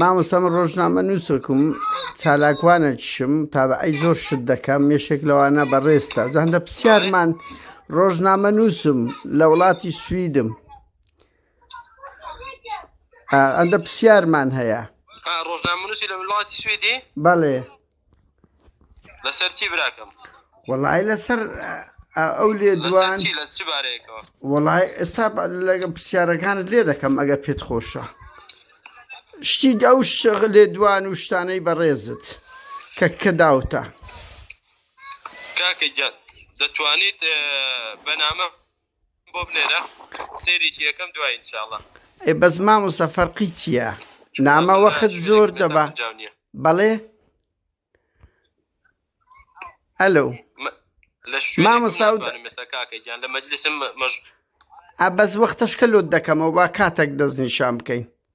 مامۆستام ڕۆژنامە نووسکم چالاکوانە چشم تا بە ئەی زۆر شت دەکەم مێشێک لەوانە بەڕێستا زەندە پرسیارمان ڕۆژنامە نووسم لە وڵاتی سویدم ئەندە پرسیارمان هەیە ڕۆژنامە نووسی لە وڵاتی سوێدی بەڵێ لەسەر چی براکەم وەڵی لەسەر ئەو لێ دوان وەڵی ئێستا لەگە پرسیارەکانت لێ دەکەم ئەگە پێت خۆشە شتی ئەو شەغ لێ دوان و شتانەی بەڕێزت کە کە داوتە کاکە گیان دەتوانیت بەنامە بۆ بنێرە سەیرێکی یەکەم دوای ان شاء اللە. ئەی بەس مامۆستا فەرقی چیە نامە وەخت زۆر دەبا بەڵێ ئەلو مامۆستا بەس وەختەشکە لۆت دەکەمەوە با کاتێک دەستنیشان بکەین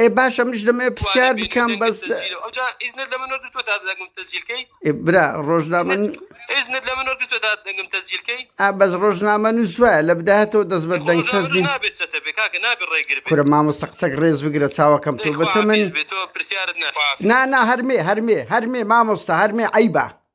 ئێ باشە منیش دەمەوێ پرسیار بکەم بەس برا ڕۆژنامە ئا بەس ڕۆژنامە نووس وایە لە بداهاتەوە دەست بە دەنگ تەزین کورە مامۆستا قسەک ڕێز بگرە چاوەکەم تۆ بەتە من نا نا هەرمێ هەرمێ هەرمێ مامۆستا هەرمێ عیبە